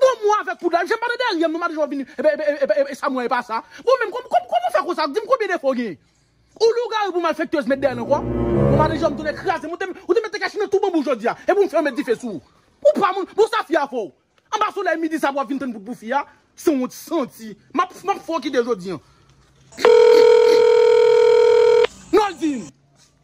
Bon mwen avèk poudlay msye m pa nan dèryèm non madichon vini epa epa epa esam wè epa sa bon menm kòman kòman ou fè konsa dim konbyen defo ou genyen ou lougarou pou malfektèz met dèyèl ankò bon madichon m tounen krazem ou te ou te mèt te kache nan tou banbou jodia epi ou m fèw met dife sou ou ou pa moun bon sa fi a fè w anba solèy midi sa pou wap vin tann poud pou fi a sanwont santi map map fè w kite jodi an Noldy.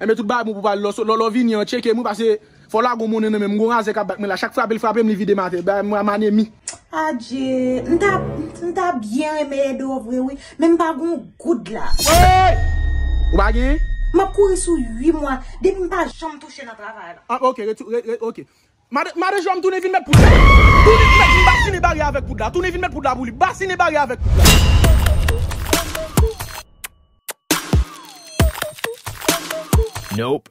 Enben tout bagay bon pou pale lòso lòlò vini an tcheke mwen pase fò la gon monnen nan menm gon razè kap bat mwen la chak frapel frapem li videm atè bay mwen manemi. Adje, m ta, m ta byen renmen ede w vre wi, men m pa gen yon goud la. Woyy! Ou pa gen? M ap kouri sou ui mwa, depi m pa janm touche nan travay la. Ah ok, rete, rete, ok. Made made jwèm tounen vin mèt poud la tounen mèt vin basinen baryè avèk poud la tounen vin mèt poud la pou li basinen baryè avèk poud la. Nope.